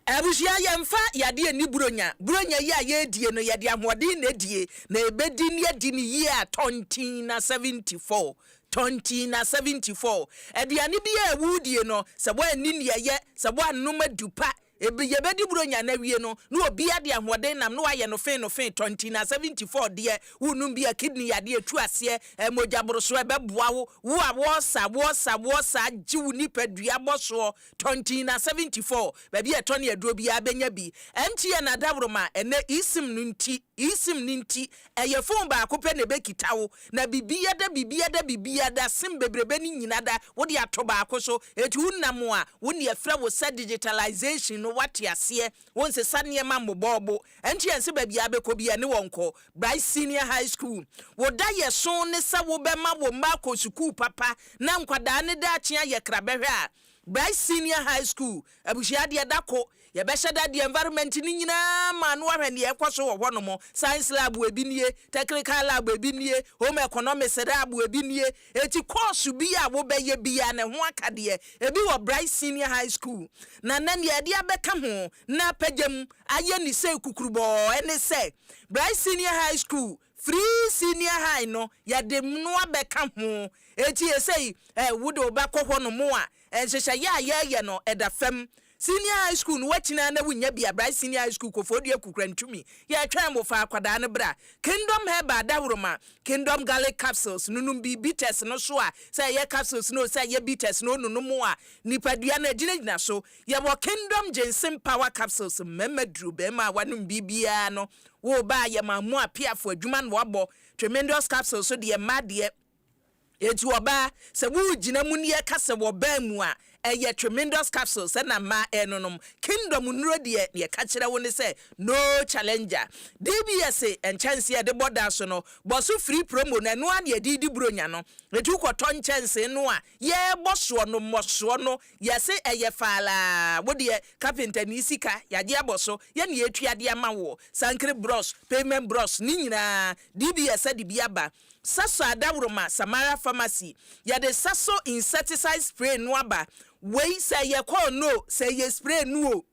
Abusua, yɛmfa yadeɛ nni buronya. Buronya yi a yɛredie no, yɛde ahoɔden na ɛdie, na yɛbɛdi ne adi ne yie a tɔntin na 74. Tɔntin na 74. Aduane biara a woredie no, sɛ woanni deɛ ɛyɛ, sɛ woannom adu pa, ɛbi, yɛbɛdi buronya no awie no, na obiara de ahoɔden nam, na wayɛ no fee no fee, tɔntin na 74 deɛ, worenom bi a kidney yadeɛ retu aseɛ, ɛɛ, mogyaborosoɔ, ɛbɛboa wo, wo a wɔresa, wɔresa, wɔresa, agye wo nipadua bɔsoɔ, Tɔntina 74, Baabi a ɛtɔ ne aduro biara bɛnya bi. MTN adaworoma, Ɛnnɛ eSIM no nti, eSIM no nti, ɛyɛ phone baako pɛ na ɛbɛkita wo, na biribiada, biribiada, biribiada, sim bebrebe no nyinada wode ato baako so, enti wonam a, wo nea ɛfrɛ wo sɛ digitalization no woate aseɛ, wonsesa nneɛma mmobɔɔbo. MTN se baabi a wobɛkɔ biara ɛne wɔn nkɔ. Bright Senior High School, Wo daeɛso ne sɛ wobɛma wo mma akɔ sukuu papa na nkwadaa no daakye ayɛ krabɛhwɛ a, Bright Senior High School, Abusua deɛ da ko, yɛbɛhyɛ da de environment no nyinaa ma no ahwɛ deɛ ɛkɔ so wɔ hɔnom, Science Lab ebi nie, Technical Lab ebi nie, Home Economics Lab ebi nie, enti course bi a wobɛyɛ biara no ɛho akadeɛ, ebi wɔ Bright Senior High School. Na nnɛ deɛ yɛde abɛka ho na apagya mu ayɛ ne sei kukurubɔɔ ɛne sɛ, Bright Senior High School, Firi senior high no yɛde mmoa bɛka ho. Enti esei eh, wode wo ba kɔ hɔ nom a, nhyehyɛeɛ a yɛɛyɛ no ɛda fam. Senior high school no woakyini ara na wonnya bi a, Bright Senior High School, Koforidua Kukurantumi, yɛɛtwɛn wo, fa akwadaa no bra. Kingdom Herbal Dahoroma, Kingdom Garlic Capsules, nonom bi, bitters no so a, sɛ ɛyɛ capsules no o, sɛ ɛyɛ bitters no o, nonom a nipadua no agyinagyina so. Yɛwɔ Kingdom Ginseng Power Capsules, mmarima duro, barima a wanom biribiara no, Woo baa yɛ maa mu a piafo adwuma na wabɔ tremendous capsule so deɛ mmaa deɛ Enti ɔbaa sɛ woo gyina mu nie ka sɛ wɔ baa mu a ɛyɛ tremendous capsules ɛna mmaa ɛnonom Kingdom nnuro deɛ neɛ ɛka kyerɛ wo ne sɛ no challenger DBS nkyɛnsee a yɛde bɔ da so no bɔ so free promo no ɛno ara na yɛde redi bronya no Enti wokɔ tɔ nkyɛnsee no a yɛɛbɔ soɔ no mmɔsoɔ no yɛse ɛyɛ faalaa wodeɛ carpenter nii sika yagye abɔ so yɛne yɛtua de ama woɔ sankere brɔs pavement brɔs ne nyinaa DBS ɛde bi aba saso adaworoma samara pharmacy yɛde saso insecticide spray no aba wei sɛ ɛyɛ kɔɔ no o sɛ ɛyɛ spray no o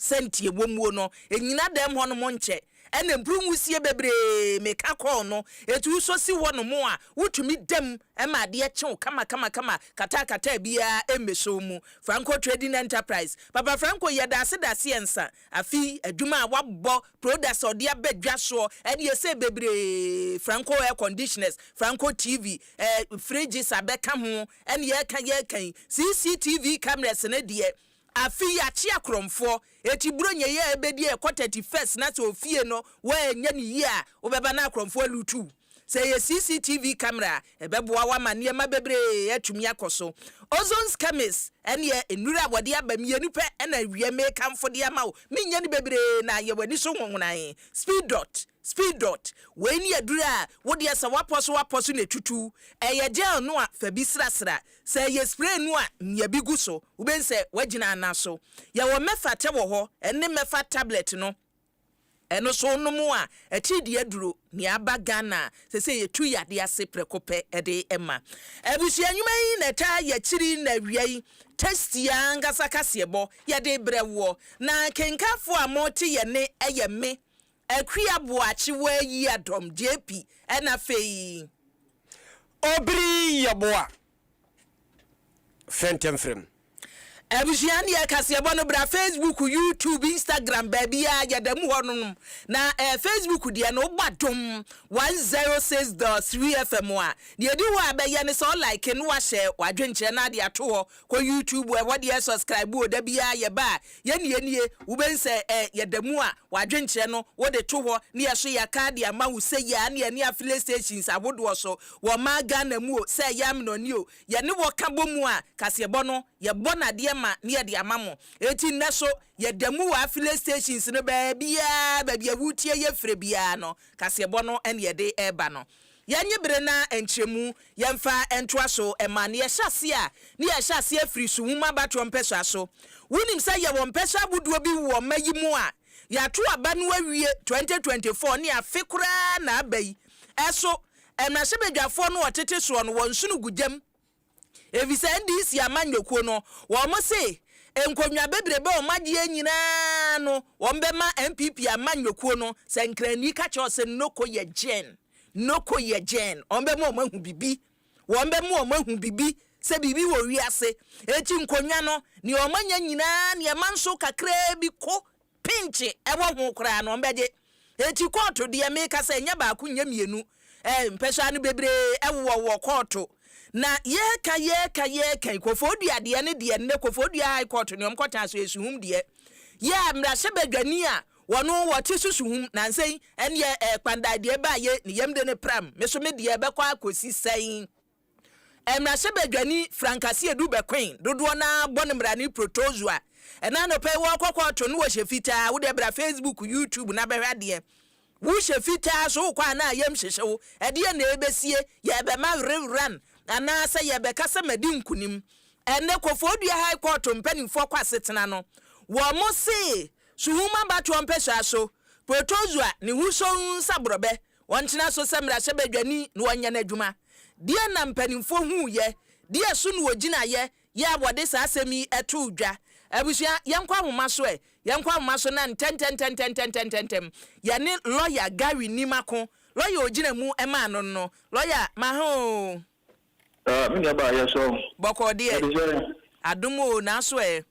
Sɛ nti ɛwɔ muo no, ɛnyina dɛm hɔ nom nkyɛ, ɛna bru nwusie bebree meka kɔɔ no, ɛti wo nso si hɔ nom a wo tumi dam ma adeɛ kye wo kama kama kama kataa kataa biaa ɛmmɛhyɛ wo mu. Franco Trading Enterprise, Papa Franco yɛdaase daase ansa, afei adwuma a wabɔ, products a ɔde aba dwa soɔ, ɛne ɛsɛ bebree, Franco Air Conditioners, Franco TV, eh, fridges abɛka ho, ɛne yɛka yɛka yi, CCTV cameras no deɛ Afei yɛakye akorɔmfoɔ. Eti Buronya yi a ɛbɛdi a ɛkɔ thirty first na sɛ ofie no woanyɛ no yie a, wobɛba na akorɔmfoɔ aluutu wo. Sɛ ɛyɛ CCTV camera a, ɛbɛboa wo ama nneɛma bebree atumi akɔ so. Ozone Scammers ɛneɛ nnuro a wɔde aba mmienu pɛ na awie mekamfo de ama wo. Menyɛ no bebree na ayɛ w'ani so nwowonae. Speedot, Speedot, Wei ne aduro a wode asɛ w'apɔ so w'apɔ so na ɛtutu. Ɛyɛ gel no a fa bi srasra Sɛ yɛ spray no a nua bi gu so, wobɛhu sɛ wagyina ana so. Yɛwɔ mɛfata wɔ hɔ ɛne mɛfa tablet no, ɛno so wonom a akyiri de aduro nea aba Ghana a sɛsɛ yɛtu yadeɛ ase prɛko pɛ de ma. Abusua nnwuma yi na ɛtaa yɛ akyiri na awia yi tasty ankasa kaseɛbɔ yɛde brɛ woɔ. Na kenkanfoɔ a mote yɛ nne yɛ me, Akua Boakye Woayi Adom JP ɛna afei. Obiri Yeboah Fɛntɛmfrɛm. Abusua deɛ kaseɛbɔ no bra Facebook YouTube Instagram baabiaa yɛdamu hɔ nom na ɛɛ Facebook deɛ no wobɔ adom 106.3 FM a deɛ ɛdi hɔ a bɛyɛ ne sɛ wo like na wahyɛ wadwenkyerɛ na ade ato hɔ Kɔ YouTube ɛhɔ deɛ subscribe o dabiaa yɛba a yɛnie nie wobɛhu sɛ ɛ yɛdamu a wadwenkyerɛ no wode to hɔ ne yɛso yɛkaa de ama wo sɛ yia ne ɛne affiliate stations ahodoɔ so wɔ ɔmaa Ghana mu o sɛ ɛyɛ amenɔne o yɛne wɔ ka bɔ mu a kaseɛbɔ no yɛbɔ no adeɛ ma ne yɛde ama mo enti nnɛ so yɛdamu wɔ affiliate stations no baabiaa baabi a woretie yɛ frɛ biaa no kaseɛbɔ no ɛne yɛde ɛba no Yɛnnye bere na nkyerɛmu, yɛmfa ntoa so mma nea ɛhyɛ aseɛ a, ne yɛhyɛ aseɛ firi Su Nwoma Abatoɔ Mpɛsoa so. Wonim sɛ yɛwɔ mpɛsoa ahodoɔ bi wɔ mma yi mu a yɛato aba no awie 2024 ne afe koraa na aba yi. Ɛso, mmarahyɛbadwafoɔ no a wɔtete soɔ no wɔ nsono gu gyam. Efisɛ NDC amanyɔkuo no wɔse nkonnwa bebrebe a wɔagyeɛ nyinaa no wɔbɛma NPP amanyɔkuo no sɛ nkrani ka kyerɛ wɔn sɛ noko yɛ gyen, noko yɛ gyen, wɔbɛma wɔn ahu bibi, wɔbɛma wɔn ahu bibi sɛ biribi wɔ wiase, enti nkonnwa no nea wɔanya nyinaa nea ɛma nso kakraa bi ko pinkye wɔ ho koraa no ɔmbɛgye. Enti kɔɔto deɛ mekasa ɛnyɛ baako nyɛ mmienu eh, mpɛsoa no bebree wowɔ wɔ kɔɔto. Na yɛɛka yɛɛka yɛɛka yi Kofoɔdua deɛ ne deɛ nnɛ Kofoɔdua High Court ne ɔmkɔtaa so yɛ suhum deɛ. Yɛ a mmrahyɛ badwani a wɔno wɔte so suhum nansa yi ɛneɛ eh Kpandae deɛ baayɛ ne yɛmde no pram, meso medeɛ ɛbɛkɔ akɔsi sɛn? Mmarahyɛbadwani Frank Asiedu Bequeen, dodoɔ no ara bɔ no mmara ne protozoa. Ɛna anɔpa yi wɔɔkɔ kɔɔto no wɔhyɛ fitaa, wodeɛ bra facebook, YouTube na bɛhwɛ adeɛ. Wohyɛ fitaa so wokɔ a na yɛm hyehye wo, ɛdeɛn na ɛbɛsie, yɛɛbɛma were run anaasɛ yɛɛbɛka sɛ madi nkunim. Ɛnɛ Kofoɔ Dua High Court mpaninfoɔ kɔ asetena no, wɔn see Suhum abatoɔ mpɛsua so, protozoa, ne ho so nsa borɔbɛ, Wɔntena so sɛ mmarahyɛbadwani na wɔnyɛ n'adwuma. Deɛn na mpanimfoɔ huuiɛ? Deɛ so na wɔgyinaeɛ yɛ a wɔde saa asɛm yi too dwa? Abusua, yɛnkɔ ahoma so ɛ! Yɛnkɔ ahoma so na ntɛntɛntɛntɛntɛntɛntɛm yɛne lɔya Gary Nim ako. Lɔya a ɔgyina mu maa no no, lɔya, maha oo. Ah me nuabaa yɛ sɔ o. Bɔkɔɔ deɛ Yɛde sɛ yɛ. Adom oo naaso ɛ.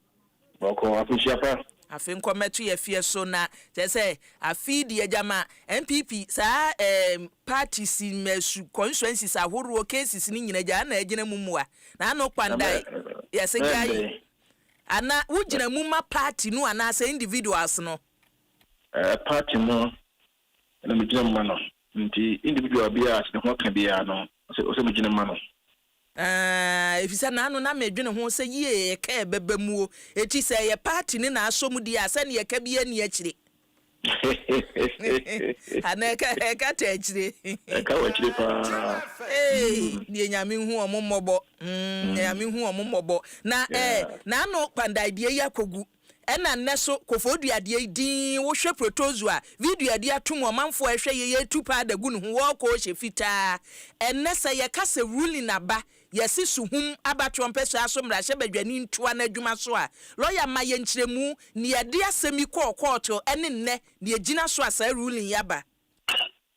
Bɔkɔɔ afehyia pa. Afe nkɔ mmɛto yɛ feɛ so na kyerɛ sɛ afe yi deɛ gyama NPP saa ɛɛm parties mɛ su constituencies ahoroɔ cases no nyina gyaa na agyina mu mua na ano kpan da yɛse gyae ana wo gyina mu ma party no anaasɛ individuals no. Ɛɛ party no na megyina mu ma no. Enti individual biara a ne ho aka biara no, ɛsɛ sɛ megyina mu ma no. Aah, efisɛ na ano na medwene ho sɛ yie ɛka ɛbɛba mu o. Eti sɛ ɛyɛ party ne na asɔ mu deɛ a, sɛnea ɛka biara nni akyire. Anaa ɛka, ɛka ta akyire. Ɛka wɔ akyire paa. Eei, deɛ Nyame nhu wɔn mmɔbɔ, mm, Nyame nhu wɔn mmɔbɔ. Na eh, na ano Kpandai deɛ yi akɔgu. Ɛna nnɛ so, kofoo dua deɛ yi dinn, wo hwɛ protozoa, vi dua di ato mu, ɔmanfoɔ a ɛhwɛ yei yei tu paa da gu ne ho, wɔɔkɔ ɔhyɛ fitaa. Ɛnnɛ sɛ yɛ ka sɛ ruling aba, yɛ se suhum aba trɔmpɛsoa so mmarahyɛ badwani ntoa n'adwuma so a, lɔya ma yɛ nkyerɛmu neɛ ɛde asɛm yi kɔɔ kɔɔto ɛne nnɛ neɛ ɛgyina so a saa ruling yi aba.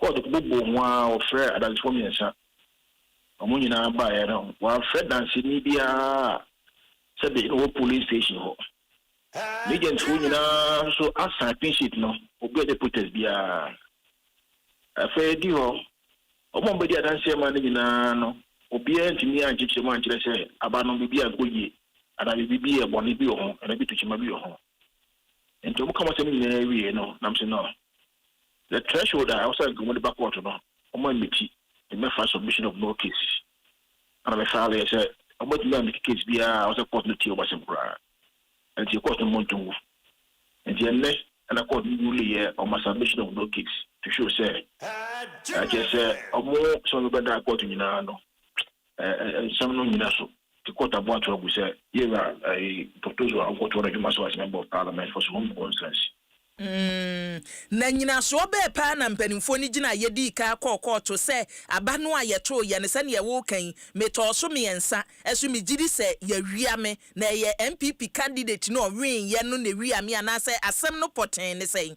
Kɔɔt bobɔɔ mu ara wɔfrɛɛ adansefoɔ mmiɛnsa. Wɔn nyinaa baeɛ no, wɔamfrɛ danseni biara sɛ de no wɔ polling station hɔ. M'agentfoɔ nyinaa nso asan clean sheet no, obiara nyɛ protest biara. Afei adi hɔ, wɔn a wɔbɛdi adanseɛ maa no nyinaa no, obiara antumi ankyekyere mu ankyerɛ sɛ aba no biribi ankɔ yie anaa biribi bi yɛ bɔne bi wɔ ho anaa ebi to kyima bi wɔ ho. Enti wɔka wɔn asɛm no nyinaa wiei no, na mese, No, the threshold a ɛwɔ sɛ anka wɔde ba kɔɔto no, wɔmaa me ti, ne mɛfa submission of no cases a na mefaileeɛ sɛ wɔbɛtumi ameki case biara a ɛwɔ sɛ kɔɔto no tie wɔn asɛm koraa. Enti kɔɔto no mmɔ nto ngu. Enti ɛnnɛ na kɔɔto no ruleeɛ on my submission of no case to show sɛ, ɛkyerɛ sɛ wɔn sɛ wɔbɛda kɔɔto nyinaa no, Ɛ nsɛm no nyina so te kɔ taboa to agu sɛ. Yɛwura ɛyi Protozoa a ɔnkɔtoɔ n'adwuma so as member of parliament for Sohum constituency. Mm, na nyinasoɔ bɛɛ paa na mpaninfoɔ no gyina a yɛdii kan kɔɔ kɔɔto sɛ aba no a yɛtoo yɛ no sɛdeɛ woka yi, metɔɔ so mmiɛnsa, ɛso megyedi sɛ yɛawia me, na ɛyɛ NPP candidate no a ɔweeɛ no na ɛwia me anaasɛ asɛm no pɔtee ne sɛn?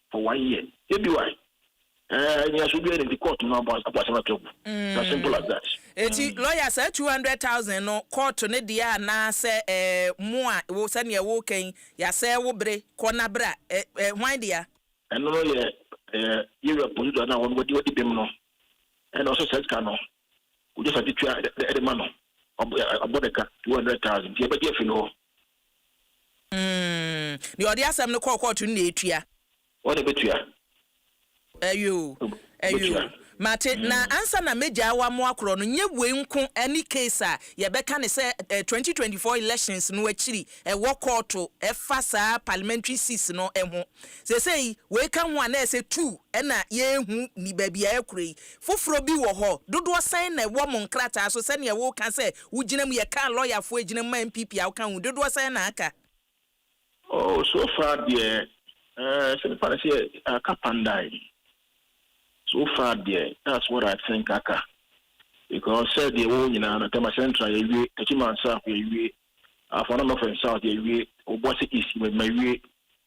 for one year yɛ bi why ɛɛ eh, nyaso biara nti court no abɔ abɔ asɛm ato agu na simple as that. Eti mm. lawyer saa two hundred thousand no court ne deɛ a na sɛ ɛɛ eh, mu a wo sɛdeɛ wo kɛn yasɛ wo bere kɔ na bra ɛɛ eh, ɛɛ hwan deɛ. ɛno no yɛ ɛɛ yɛwura polisi na wɔn wɔdi wɔdi bɛm no ɛna ɔsɛ sɛ sika no wɔde sa ti tua ɛde ma no ɔbɔ de ka two hundred thousand yɛ bɛ di efi no hɔ. Mm, deɛ ɔde asɛm no kɔɔ kɔɔto no na etua. Wɔn na ebetua. Ɛyɛ o, ɛyɛ o, mate. Na ansa na megyaa w'amoa korɔ no, nyɛ wei nko ne case a yɛbɛka no sɛ eh, twenty twenty four elections no akyiri ɛwɔ kɔɔto ɛfa saa parliamentary seats no ho. Sesei wei ka ho a na ɛsɛ two ɛna yɛrehu ni baabi a ɛkura yi. Foforɔ bi wɔ hɔ? Dodoɔ sɛn na ɛwɔ mo nkrataa so sɛdeɛ woka sɛ wogyina mu yɛ car lɔyafoɔ ɛgyina mu ma NPP a woka ho dodoɔ sɛn na aka? Oh so far deɛ eh sɛ nipa no sɛ aka pandae so far deɛ that's what I think aka because sɛ deɛ ɛwɔ hɔ nyinaa no Tema central yɛawie, Techiman south yɛawie, Afɔnamafɛn south yɛawie, Obuasi east mawie.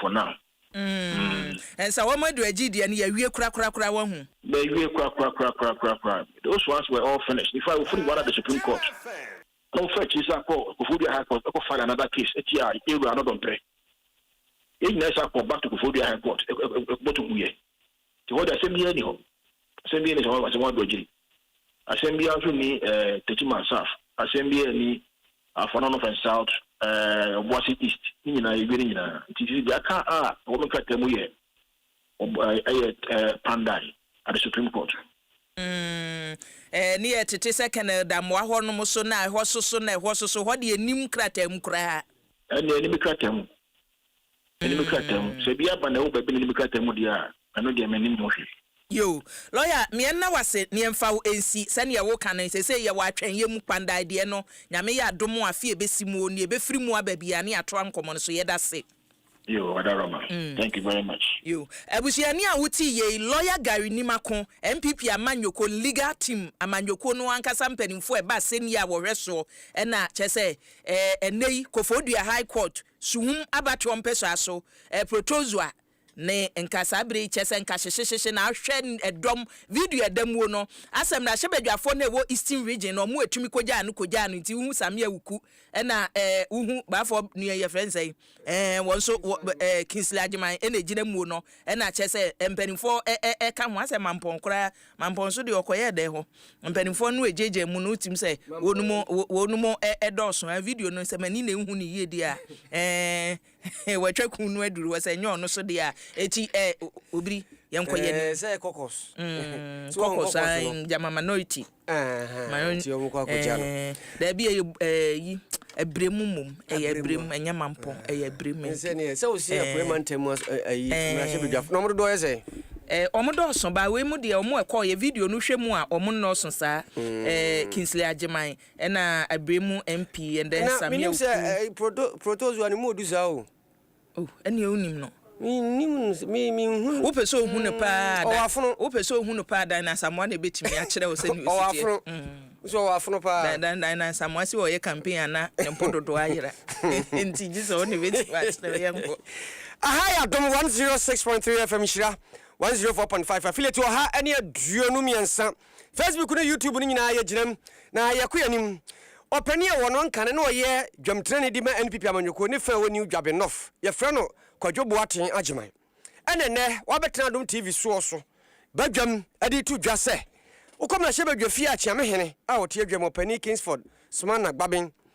for now. Umm ɛnsa wɔn adu agyi deɛ no yɛawie korakorakora wahu. Bɛwie korakorakorakorakorakora those ones were all finished in fact wɔfiri Buada de Supreme Court na wɔfa akyiri san kɔ Koforidua High Court kɔ file another case tia Yɛwura Anɔdɔmpɛ yɛn nyinaa san kɔ back to Koforidua High Court ɛkɔbɔtɔ guiɛ. Nti hɔ de asɛm biara nni hɔ. Asɛm biara nni sɛ wɔasɛm wɔn adɔgyiri. Asɛm biara nso nni eh, Techiman South. Asɛm biara nni Afɔano North and South, eh, Obuasi East. Ne nyinaa yɛwie ne nyinaa. Nti sisi deɛ aka a ɛwɔ me nkrataa mu yɛ Ob, eh, ɛyɛ eh, Pandan at the Supreme Court. Mm, eh, ne yɛ tete sɛ Colonel Damoah hɔ nom so na ɛhɔ so so na ɛhɔ so so. Hɔ deɛ nnim nkrataa mu koraa. Ɛnneɛ ɛnni me krataa mu. M'anim krataa mu. Sɛ bi aba na ɛwɔ baabi na m'anim krataa mu deɛ a, ɛno deɛ mennim ho hwee. Yoo, lɔya, meɛ nna wo ase, neɛ mfa wo nsi, sɛdeɛ wo ka no, sesei yɛ wɔ atwɛnyɛ mu, kpandae deɛ no, Nyame yɛ adom a, afe a ɛbɛsi mu oo, neɛ ɛbɛfiri mu aba biara no yɛatoa nkɔmmɔ no so, yɛda se. Yoo, Adaroma, thank you very much. Yoo, abusuani a wotee yei, lɔya Gary Nimako, NPP amanyɔkuo no legal team, amanyɔkuo no ankasa mpanimfoɔ a ɛba asɛnnie a wɔhwɛ soɔ, ɛna kyerɛ sɛ ɛɛ, ɛnnɛ yi, Kofoɔ Dua High Court, So hom abatoɔ mpɛsoa so, eh, protozoa, ne nka saa bere yi, kyerɛ sɛ nka hyehyehyehye na ahwɛ ɛdɔm, video ɛdamuo no, asɛ mmrahyɛbadwafoɔ no a ɛwɔ Eastern Region no, wɔn a ɛtumi kɔgyaa no kɔgyaa no nti, wohu Samia Awuku, ɛna eh, wohu baafoɔ nua yɛfrɛ no sɛn, eh, wɔn nso, wɔ, eh, Kingsley Agyeman ɛna ɛgyina muo no, ɛna kyerɛ sɛ mpanimfoɔ ɛ, ɛ, ɛka ho, asɛ Mampɔn koraa Mampɔn so deɛ ɔkɔyɛɛ dɛn hɔ? Mpanimfoɔ no regyaagyaa mu no wotim sɛ wɔnom wɔnom dɔɔso a video no sɛ m'ani na ehu ne yie deɛ a ɛɛ wɔatwa kun no aduru hɔ sɛ nyɛ ɔno so deɛ a eti ɛɛ obiri yɛn kɔ yɛn ɛɛ sɛ kɔkɔs mm, kɔkɔs an gyama minority ɛɛ ti wɔn kɔ akɔgya no daabi ɛyɛ ɛɛ yi. Abirem mmom, ɛyɛ abirem, ɛnyɛ mampɔn, ɛyɛ abirem nti. Sɛ neɛ, sɛ wosua Apueɛ mantam mu ayi, mmarahyɛbadwafoɔ, na wɔn dodoɔ yɛ sɛn? Ɛɛ, wɔn dɔɔso, but wei mu deɛ, wɔn a ɛkɔɔeɛ, video no hwɛ mu a, wɔn nnɔɔso saa, ɛɛ, Kingsley Agyeman, ɛna Abirem MP, and then Samia Oku. Ɛna, menim sɛ ɛɛ, proto, protozoa no mu odu saa o. Oh, ɛnneɛ wonim no. Mennim no, me, menhu no. Wopɛ sɛ ohu no paa a, mm, ɔwɔ afono. Wopɛ sɛ ohu no paa dan na asamoa na ɛbɛtumi akyerɛ wo sɛ ne ɔwɔ afono. Mm. Nso ɔwɔ afono paa. Dan, dan, dan na asamoa sɛ ɔyɛ campaign ana ne mpo dodoɔ ayera. Nti gye sɛ wo ne bɛtumi akyerɛ wo yɛnkɔ. Aha yɛ Adom 106.3 FM Nhyira 104.5 affiliate ɔha ne aduonu mmiɛnsa Facebook ne YouTube no nyinaa yɛgyinam na yɛkɔ yɛanim. Ɔpanin a ɔwɔ no Nkane na ɔyɛ dwamtirani de ma NPP amanyɔkuo ne fã a ɛwɔ New Dwabe North, yɛfrɛ no Kwadwo Boateng Agyeman ɛna ɛnnɛ wabɛtena Adom TV soɔ so badwam de reto dwa sɛ wokɔ mmarahyɛbadwafie a Kyeamehene a ɔte adwam, Ɔpanin Kingsford Sumana Gbaben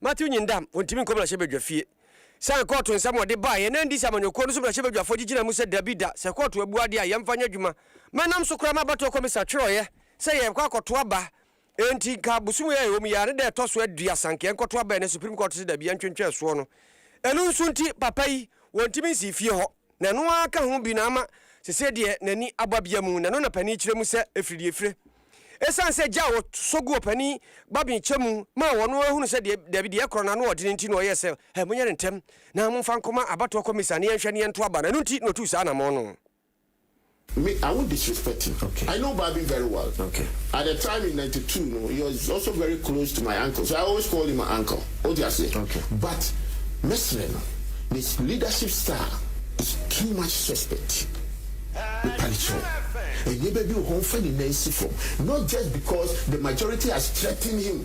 Matthew nyin da a ontumi nkɔ mmrahyɛbadwa fie. San kɔɔto nsɛm a ɔde baeɛ na ɛndi sɛ amanyɔkuo no so mmrahyɛbadwafoɔ gye gyina mu sɛ dabi da sɛ kɔɔto abu adeɛ a yɛmfa nyɛ adwuma. Mɛnam so koraa m'abatoɔ kɔmisa twerɛeɛ sɛ yɛrekɔ akɔto aba enti nka bosome a ɛwɔ mu yi ara ne da ɛtɔ so aduasa nka yɛnkɔto aba ɛnɛ supreme kɔɔto se dabi yɛntwentwɛn soɔ no ɛno nso nti papa yi wɔntumi nsii fie hɔ. Na ɛno ara ka ho bi na ama seesei deɛ n'ani abɔ abia mu, na ɛno na panin kyerɛ mu sɛ ɛfiri deɛ ɛfire. Ɛsiane sɛ gya a wɔsɔ gu ɔpanin babene kyɛ mu maa wɔn no ara hunu sɛ deɛ dabi deɛ ɛkorɔ no ano ɔdene nti na ɔyɛɛ sɛ, Ɛ, monyɛ no ntɛm na momfa nkɔma abatoɔ kɔmisa na yɛnhwɛ na yɛnto aba no, ɛno nti na ɔtuu saa anammɔn no. Me are wo disrespecting okay. I know Barbie very well okay. At the time in ninety two no he was also very close to my uncle so I always called him my uncle o ti aseɛ okay. But mɛsrɛ no his leadership style is too much suspect mepa ne kyɛw nneɛma bi wɔ hɔ ɔnfa ne nan si fam not just because the majority has threatened him.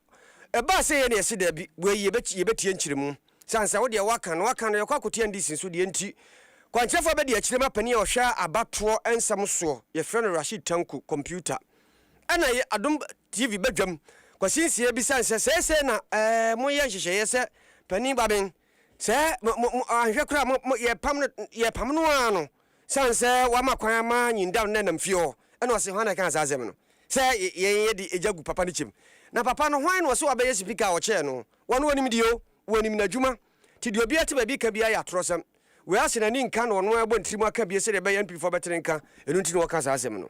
Ɛbaa sɛ yɛne ɛse daabi, wei yɛbɛti yɛbɛtie nkyerɛmu, sane sɛ wodeɛ woaka no woaka no yɛkɔ akotia ndc nso deɛ nti kwankyerɛfoɔ abɛdi akyire ma panin a ɔhwɛ abatoɔ nsɛm soɔ yɛfrɛ no Rashid Tanku computer ɛna yɛ adom TV badwam Kwasi Nsiah bi sane sɛ seesei na ɛɛ moyɛ nhyehyɛeɛ sɛ panin Baben Sɛ mo, mo, mo, anhwɛ koraa a, mo, mo, yɛpam no, yɛpam no ara no, sane sɛ wama kwan ama Nyindam no nam fie hɔ. Ɛna ɔse, Hwan na ɛkaa saa asɛm no, sɛ yɛn yɛde agya gu papa no kyɛm? Na papa no, hwan na ɔse wabɛyɛ sipika a ɔkyɛɛ no? Wɔn wɔnim deɛ o, wɔnim n'adwuma. Nti deɛ obiara te baabi ka biara yɛ atorɔsɛm. Wei ase n'ani nka na ɔno ara bɔ ne tirim aka bie sɛdeɛ ɛbɛyɛ a NPfoɔ bɛtene nka, ɛno nti na ɔka saa asɛm no.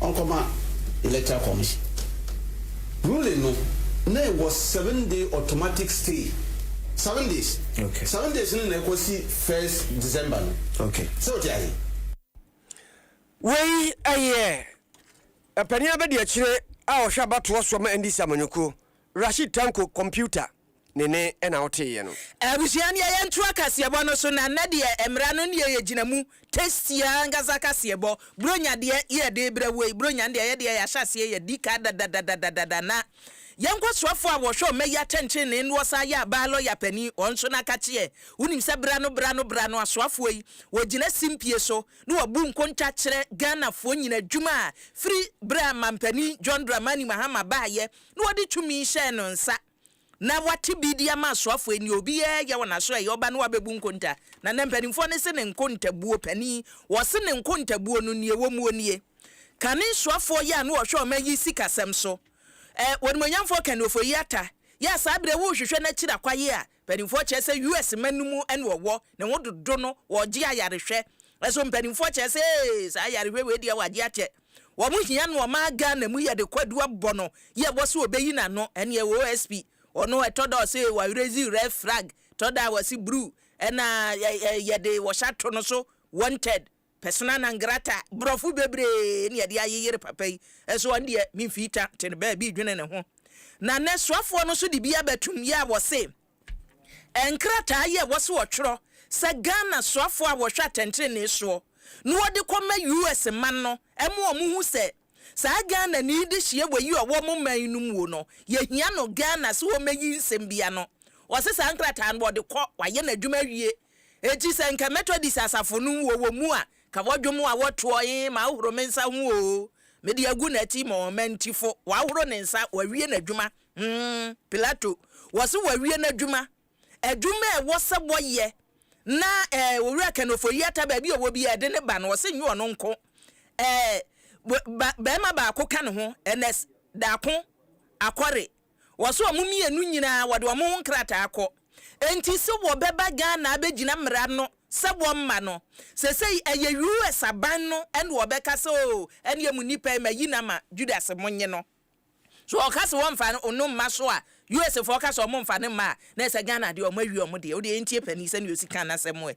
ɔnkɔma electoral commission ruling no na ɛwɔ seven day automatic stay seven days seven days no na ɛkɔsi first December no sɛ wote ahe. Wei ɛyɛ Mpanin Abadiakyire a ɔhwɛ abatoɔ soɔ ma NDC amanyɔkuo Rashid Tanko computer ne ne na woteeɛ no. Abusua nea yɛntoa kaseɛbɔ no so na nnɛ deɛ mmara no nea yɛgyina mu tasty ankasa kaseɛbɔ bronya deɛ yɛ de brɛ wo yi bronya deɛ yɛ deɛ yɛahyɛ aseɛ yɛdi ka dadadadadada na yɛn nkɔsoafoɔ a wɔhwɛ ɔma yi atɛnkyenne no wɔsan yɛ abaa lɔya panin wɔn nso no aka kyeɛ wonim sɛ bra no bra no bra no asoafoɔ yi wɔgyina simpie so na wɔbu nkonta kyerɛ Ghanafoɔ nyina adwuma a firi berɛ a mampanin John Dramani Mahama baayɛ na wɔde tumi hyɛɛ no nsa, na wate bi de ama asoafo yi, nea obiara yɛ wɔ n'aso a ɛyɛ ɔba no wabebu nkonta. Na nnɛ mpanimfoɔ no se ne nkontabuo panin, wɔse ne nkontabuo no nea ɛwɔ muo nie, Kane soafoɔ yɛ a na ɔhwɛ ɔman yi sikasɛm so, ɛ, Onimuonyamfoɔ Kane Ofori-Atta, yɛ a saa berɛ yi worehwehwɛ n'akyiri akwayeɛ a Mpanimfoɔ kyerɛ sɛ US mma no mu na ɔwɔ ne ho dodo no wɔregye ayarehwɛ nso mpanimfoɔ kyerɛ sɛ ee saa ayarehwɛ wei deɛ wɔagye akyɛ wɔn hia nnoɔma a Ghana mu yɛde kɔ adu abɔ no yɛ bɔ sɛ ɔbɛyi n'ano ɛneɛ OSP ɔno ɛtɔ da ɔse wa raise red flag tɔ da a wɔse bruu ɛna yɛde wɔhyɛ ato no so wanted Persona non grata, Brɔfo bebree na yɛde ayeyere papa yi, nso ɔno deɛ ne mfii ta te no baabi dwene ne ho. Na nnɛ soafoɔ no nso de bi aba tum yɛ a wɔse nkrataa yi a ɛwɔ sɛ wɔtwerɛ sɛ Ghana soafoɔ a wɔhwɛ atɛntrenee soɔ na wɔde kɔma US man no ɛma wɔn hu sɛ saa Ghanani dehyeɛ wɔ yi a ɔwɔ wɔn man no muo no yɛhia no Ghana sɛ wɔmɛyi nsɛm bi ano. Ɔse saa nkrataa no wɔde kɔ, wayɛ n'adwuma awie. Enti sɛ nka Methodist asafo no mu wɔwɔ mu a, ka wɔdwom a wɔtoɔ he ma ɔhoro me nsa ho oo, mede agu n'ati ma ɔmanti fo, wahoro ne nsa, wawie n'adwuma. Hmm, Pilato, wɔse wawie n'adwuma, adwuma a ɛwɔ sɛ wɔyɛ na eh, Owura Kanofoyiata baabi a ɔwɔ biaa ɛde ne ba no, ɔse nyɛ ɔno nko eh, ba, barima baako ka ne ho, Ernest Daako Akore. Wɔse wɔn mmienu nyinaa wɔde wɔn ho nkrataa akɔ. Enti se wɔbɛba Ghana abɛgyina mmara no sɛ wɔmma no. Sesei ɛyɛ US aban no ɛna wɔbɛka sɛ oo ɛneɛ mo nipa yi mayi no ama Judas monye no. So ɔka se wɔmfa no mma so a, US foɔ ka se wɔmfa no mma a, na ɛsɛ Ghana deɛ wɔawie wɔn deɛ. Wodeɛ yɛntie panin sɛdeɛ ɔsi ka n'asɛm ɛ.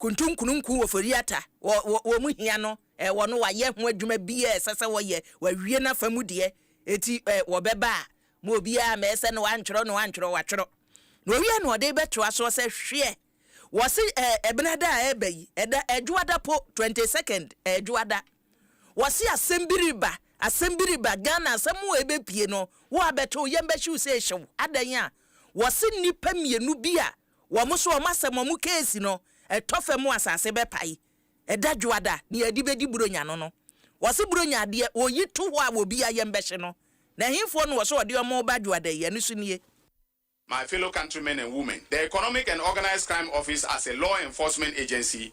Kuntun kununkun wɔ Foriata, wɔ wɔ wɔn hia no, ɛ, wɔ no wɔayɛ ho adwuma biara a ɛsɛ sɛ wɔyɛ, wɔawie n'afa mu deɛ, enti ɛ, wɔbɛba a, mo obiara mɛ sɛ na wantwerɛ na wantwerɛ, watwerɛ. Na ɔwie na ɔde bɛtoa soɔ sɛ, Hweɛ, wɔse ɛ, Ɛbenada a ɛreba yi, ɛda, Ɛdwoada po, 22nd, ɛ, Ɛdwoada, wɔse asɛm bi reba, asɛm bi reba, Ghana asɛm a ɛbɛpue no, wo abɛto, yɛmbɛhye wo sɛ ɛhyɛ wo, adɛn a, wɔse nnipa mmienu bi a wɔn so wɔn asɛm wɔn case no ɛtɔ fam mu asase bɛpae ɛda dwoada nea yɛde bɛdi buronya no no wɔse buronya adeɛ wɔyi to hɔ a wɔbi a yɛn bɛhye no na ɛhefoɔ na wɔse wɔde wɔn reba dwoada yi ɛno so nie. My fellow countrymen and women, the Economic and Organised Crime Office as a law enforcement agency,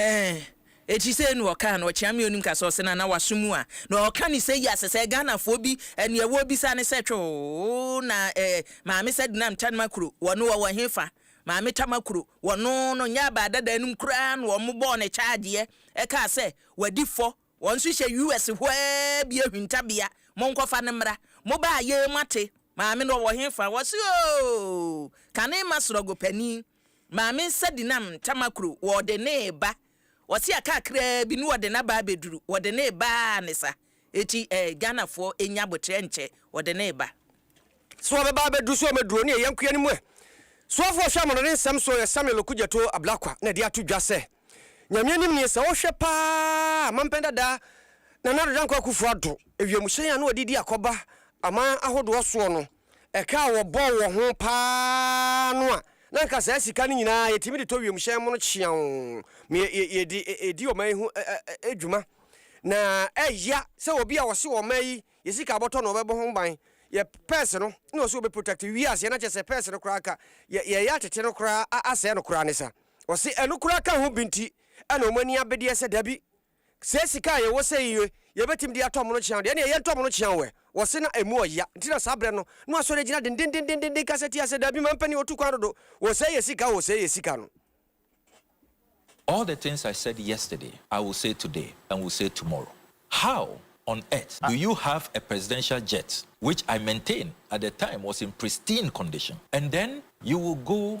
Eeh ekyi sei na ɔkaa no ɔkyea me onim kasa ɔse nana waso mu a na ɔka ne sɛ yia sesɛ Ghana foɔ bi ɛneɛ wɔ bisa ne sɛ twoo na eh maame sɛ denam tanma kuro wɔ no ɔwɔ he fa maame tama kuro wɔ no no nyɛ abaa dada anim koraa na ɔmo bɔɔ ne kyaadeɛ ɛkaa sɛ wadi fɔ wɔn nso hyɛ US hɔ aa bi ahwinta bea monkɔ fa no mmra mo baa yɛɛ moate maame no ɔwɔ he fa ɔse ooh kane ma srɔgo panin Maame nsa di nam ntama kuro wɔɔde nee ba ɔsea kakraa bi ne wɔde naba abɛduru wɔde nee ba aa ne sa ɛti ɛɛ Ghana foɔ ɛnya aboterɛ nkyɛ wɔde nee ba. So ɔbɛba abɛduru so ɔmɛduru ɔne ɛyɛ nkoa no mu ɛ Soafoɔ hwɛ amono ne nsɛm so ɔyɛ Samuel Okudzeto Ablakwa na ɛde ato dwa sɛ Nyame anim nie sɛ wo hwɛ pa aa mampɛn dada Nana Addo Dankwa Akufo Addo ɛwiamuhyɛn a na wɔde di akɔba aman ahodoɔ soɔ no Ɛka a wɔbɔɔ wɔ ho paa no a, na anka saa sika no nyinaa yɛtumi de tɔ wiemhyɛn mono kyeaw ma yɛdi ɔman yi ho dwuma. Na ɛya sɛ obi a ɔse ɔman yi yɛ sika a ɔbɔtɔ na ɔbɛbɔ ho ban, yɛ purse no na ɔse ɔbɛ protect wiase na kyerɛ sɛ purse no koraa anka yɛyɛ atete no koraa asɛe no koraa ne sa. Ɔse ɛno koraa ka ho bi nti na wɔn ani abedeɛ sɛ dabi Sɛ sika a yɛwɔ sɛn yie, yɛbɛtumi de atɔ mono kyeaw deɛ, ɛnneɛ yɛntɔ mono kyeaw ɛ. Wɔse na ɛmu ɔya, nti na saa berɛ no, na wɔasɔre agyina dendendendenden kasa tia sɛ, Dabi, mampanin wɔtu kwan dodo, wɔsɛe yɛ sika, wɔsɛe yɛ sika no. All the things I said yesterday, I will say today and will say tomorrow. How on earth do you have a presidential jet which I maintain at the time was in pristine condition and then you will go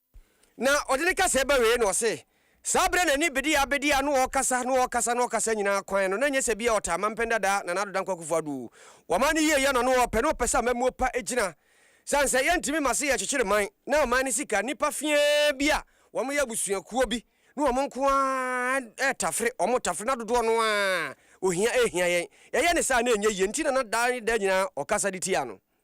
Na ɔde ne kasaɛ ba wieɛ na ɔse, saa berɛ na ne bedeɛ abɛdi a na ɔɔkasa, na ɔɔkasa, na ɔɔkasa nyinaa kwan no, na nyɛ sɛ bia ɔtaa Mampɛn Dada, Nana Addo Dankwa Akufo Addo. Waman no yie yɛ na na ɔɔpɛ, na ɔpɛ sɛ amammuo pa gyina. Sane sɛ yɛntumi ma se yɛkyekyere man, na ɔman no sika, nnipa feaa bi a wɔn yɛ abusuakuo bi ne wɔn nko ara tafere, wɔn tafere, na dodoɔ no ara ohia ɛɛhia yɛn. Yɛyɛ ne saa a na ɛnyɛ yie, nti na na daa ne daa nyinaa ɔkasa de tia no.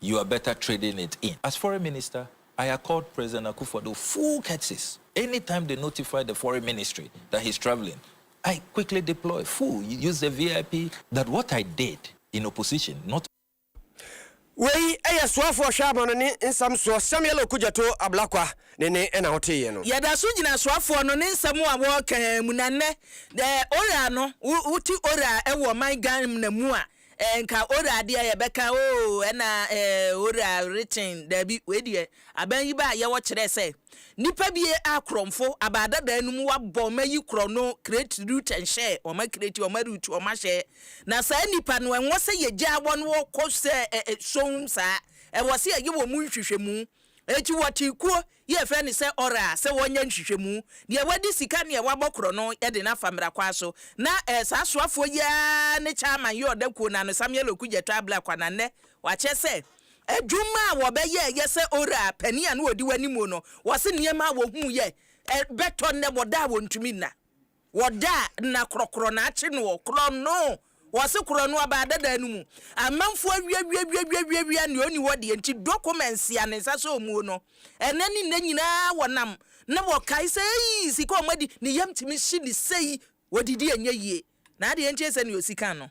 You are better trading it in. As foreign minister, I accord President Akufo-Addo full courtesies. Anytime they notify the foreign ministry that he's travelling, I quickly deploy, full, use the VIP. That what I did in opposition, not. Wei yɛ soafoɔ hwɛamɔno ne nsɛm soɔ Samuel Okudzeto Ablakwa ne ne na wo teeɛ no. Yɛda so gyina soafoɔ no ne nsɛm a wɔɔka mu na nnɛ, deɛ Ora no, wo te Ora wɔ ɔman Ghanmna mu a, Eh nka owura deɛ yɛbɛka oo ɛna eh owura rekyen daabi wei deɛ aban yi baa yɛwɔ kyerɛɛ sɛ nipa bi a korɔnfo abaa dadaa no mu wabɔ wɔn ayi korɔ no kreti ruta nhyɛɛ wɔn akreti wɔn arutu wɔn ahyɛɛ na saa nipa no ɛnwɔ sɛ yɛgyaa wɔn wɔ kɔ sɛ eh eh sohum saa ɛwɔ sɛ yɛyɛ wɔn nhwehwɛmu Enti wɔtee kuo yi a yɛfrɛ no sɛ Ɔraa sɛ wɔnyɛ nhwehwɛmu. Deɛ wadi sika ne deɛ wabɔ korɔ no de no afa mmerakwan so. Na ɛyɛ saa soafoɔ yi ara ne Chairman Yoo Ɔda Kuo no ano, Samuel Okudja Twabla Kwa na nnɛ wakyerɛ sɛ adwuma a wɔbɛyɛeɛ sɛ Ɔraa panin a na ɔdi wɔn anim no, wɔse nneɛma a wɔhuuiɛ bɛtɔ nnɛ wɔda a wɔntumi nna. Wɔ da a nna krɔkrɔ na akye no ɔ, krɔno, wɔ se krɔno abaa dadaa no mu. Amanfuo awiawiawiawiawiawia nea ɔni hɔ deɛ nti documents a ne nsa sɔɔ muo no, ɛnɛ ne nnɛ nyinaa wɔ nam na wɔ kae sɛ eii sika ɔmo adi, ne yam tumi hye no sei, wɔ didi ɛnyɛ yie, na adeɛ nkyee sɛ nea ɔsi kan no.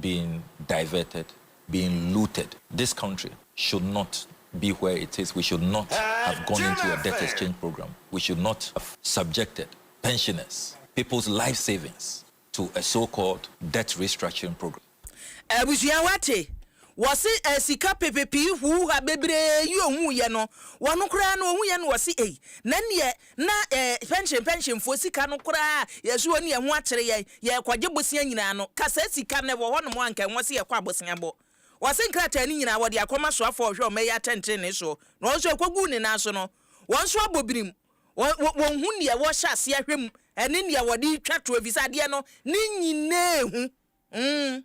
being diverted, being looted. This country should not be where it is, we should not have gone into a debt exchange program, we should not have subjected pensioners, people's life savings to a so called debt restructuring program. Abusua wate? Wɔse eh sika pepepee huuha bebree yi ohuu yɛ no wɔn koraa no ohuu yɛ no wɔse ei na neɛ na pɛnhyen pɛnhyenfoɔ sika no koraa yɛ so wɔn yɛn ho akyere yɛn, yɛrekɔgye bosea nyinaa no, ka saa sika no ɛwɔ hɔnom a nka ɛwɔ sɛ yɛkɔ abosea bɔ. Wɔse nkrataa no nyinaa wɔde akɔma soafoɔ a ɔhwɛ wɔn ɛyɛ atɛntenenee soɔ, na wɔn nso ɛkɔguu ne nan so no, wɔn nso abɔ birim, wɔ, wɔnhu deɛ wɔhyɛ aseɛ hwɛ mu ne deɛ wɔde retwa toɔ, ɛfiri sɛ adeɛ no ne nyinaa hu. Umm.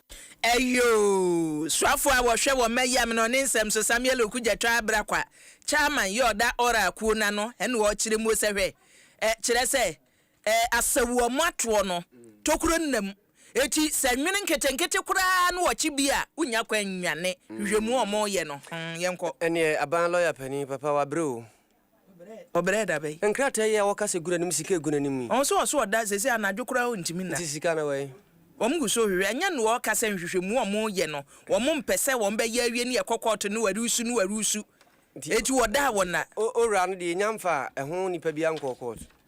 Ɛyoo! Soafoɔ a wɔhwɛ wɔ mma yam no ne nsɛm so Samuel Oku Gyatwa Abrakwa, Chairman, yɛ ɔda Ɔra akuo no ano ɛna ɔrekyerɛ muo sɛ hwɛ ɛ, kyerɛ sɛ ɛ, Asawu ɔmo atoɔ no tokuro nna mu, eti sɛ nwene nketenkete koraa no ɔkye bi a wonnya kwan nnwane, hwehwɛ muo ɔmo yɛ no, hmm, yɛnkɔ. Ɛneɛ aban lɔya panin papa wabrɛ oo. Ɔbrɛɛ da bɛn? Nkrataa yi a wɔka sɛ gu n'anim sika egu n'anim yi. Ɔho sɛ ɔso ɔda sese anadwo koraa ontumi nna. Nti sika no wɛn. Wɔn gu so hwehwɛ. Ɛnyɛ noa ɔka sɛ nhwehwɛmu a wɔn yɛ no wɔn mpɛ sɛ wɔn bɛyɛ awie ne ɛkɔ kɔɔto ne wɔ resu ne wɔ resu. Nti wɔdaa wɔn na. Owura no deɛ yɛnya mfaa ɛho nipa biara nkɔɔ kɔɔto.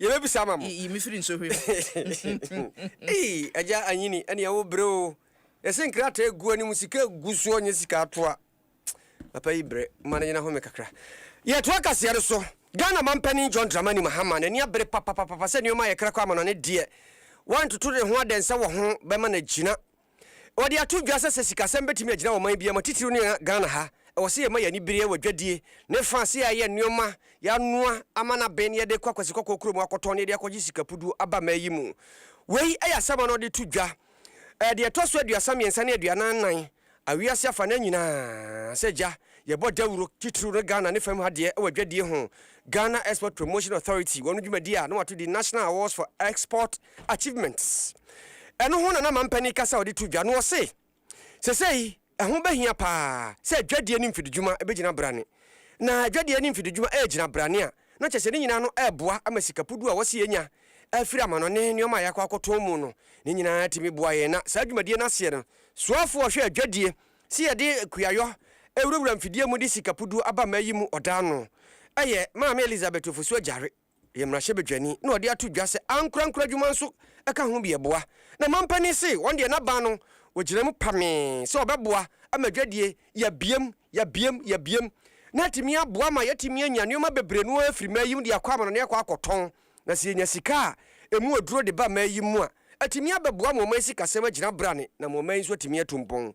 Yɛbɛbisa ama mo. Yi me firi nsɔhwɛ mu. Ei, Agya Anyini, ɛneɛ wo brɛ o. Yɛse nkrataa ɛgu anim, sika ɛgu soɔ nyɛ sika atoa. Papa yi brɛ, momma no nyina home kakra. Yɛtoa kaseɛ no so. Ghana Mampanin John Dramani Mahama n'ani abere papapapapa sɛ nneɛma a yɛkra kɔ ama no ne deɛ wantoto ne ho adɛnsɛ wɔ ho bɛma no agyina. Wɔde ato dwa sɛ sɛ sikasɛm betumi agyina wɔ ɔman biara mu a, titiriw ne Ghana ha, ɛwɔ sɛ yɛma yɛn ani bere wɔ adwadie ne fã sɛ yɛayɛ nneɛma, yɛanoa ama no abɛn na yɛde kɔ Akwasi Kɔkɔɔ kurom akɔtɔn na yɛde akɔgye sikapuduo aba mmaa yi mu. Wei yɛ asɛm a na wɔde to dwa deɛ ɛtɔ so aduasa mmiɛnsa ne aduanan nnan a wiase afanan nyinaa sɛ gya yɛbɔ dawuro, titiriw no Ghana ne fam ha deɛ, wɔ adwadie ho. Ghana Export Promotion Authority, wɔn dwumadie a na wɔato din National Awards for Export, achievements. Ɛno ho na na Mampanin kasa a ɔde to dwa no ɔse, Sesei ɛho bɛhia paa sɛ adwadie ne mfididwuma bɛgyina brane. Na adwadie ne mfididwuma ɛregyina brane a, na kyerɛ sɛ ne nyinaa no ɛreboa ama sikapudu a wɔse yɛnya afiri amanɔne nneɛma a yɛakɔ akɔtɔn mu no, ne nyinaa atumi boa yɛn. Na saa dwumadie no aseɛ no, soafoɔ a ɔhwɛ adwadie se yɛde kuayɔ ɛwurawura mfidie mu de sikapudu aba mmaa yi mu ɔdaano ɛyɛ Maame Elizabeth Ofosu Agyare. yɛ mmarahyɛbadwani na ɔde ato dwa sɛ ankorankoro adwuma nso ka ho bi ɛboa. Na manpanin se wɔn deɛ n'aban no wɔgyina mu pamee sɛ wɔbɛboa ama dwadie yɛabiem, yɛabiem, yɛabiem na atumi aboa ma yɛatumi anya nnoɔma bebree no ara firi mmaa yi mu de akɔ amanɔne akɔ akɔtɔn na sɛ yɛnya sika a ɛmu aduro de ba mmaa yi mu a atumi abɛboa ama ɔman sikasɛm agyina brane na ama ɔman yi nso atumi atu mpɔn.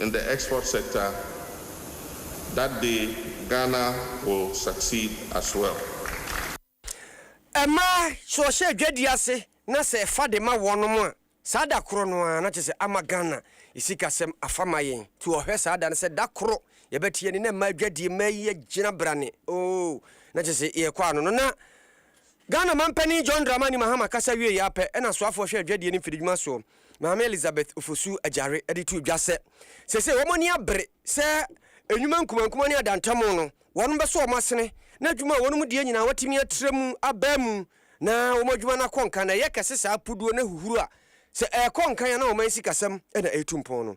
in the export sector that day Ghana will succeed as well. Mmaa, sɛ wɔhyɛ adwadie ase na sɛ ɛfa de ma wɔnom a, saa da korɔ no ara na kyerɛ sɛ ama Ghana sikasɛm afa ma yɛn. Nti wɔhwɛ saa da no sɛ da koro yɛbɛte yɛn nne na mmaa adwadie, mmaa yi agyina brane oo, na kyerɛ sɛ yɛrekɔ ano no na Ghana Manpanin John Dramani Mahama kasa wieeɛ ara pɛ na soafoɔ hwɛ adwadie ne mfididwuma soɔ, Maame Elizabeth Ofosu Agyare de too dwa sɛ, seesei wɔn ani abere sɛ nnwuma nkumankuma ne adantamu no, wɔn bɛsɔ wɔn asene na adwuma a wɔnom die nyinaa wɔatumi atra mu abaa mu na wɔn adwuma no akɔ nkan na ɛyɛ kɛse saa puduo no ahuhuro a sɛ ɛrekɔ nkan a na wɔn sikasɛm na ɛretu mpɔn no.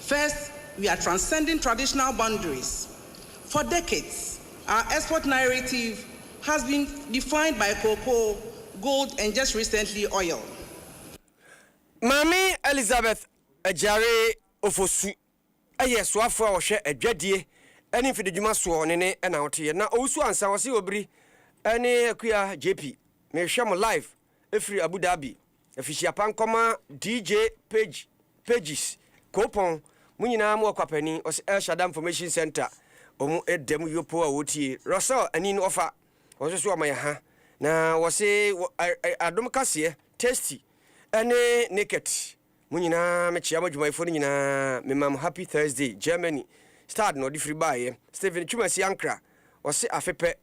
First, we are transcending traditional boundaries. For decades, our export narrative has been defined by cocoa, gold and just recently oil. Maame Elizabeth Agyare Ofosu yɛ soafoɔ a ɔhwɛ adwadie ne mfididwuma soɔ ne ne na woteɛ na ɔwusu ansa ɔse obiri ne akua JP mehwɛ mo live firi Abu Dhabi, Afihyia pa nkɔma DJ Page, Pages, Koopɔn, mo nyinaa mo ɔkwapani, ɔse El Shada Information Centre, ɔmo da mu yopo a wɔtie, Russell Ani no ɔfa, wɔn nso so ɔma yɛ ha, na wɔse wɔ ɛ-ɛ Adom Kaseɛ, Tasty, ɛne Naked, mo nyinaa me kyea mo adwumayɛfoɔ no nyinaa, me ma mo Happy Thursday, Germany, Stad na ɔde firi baeɛ, Steven Twumasi Ankra, ɔse afe pɛ,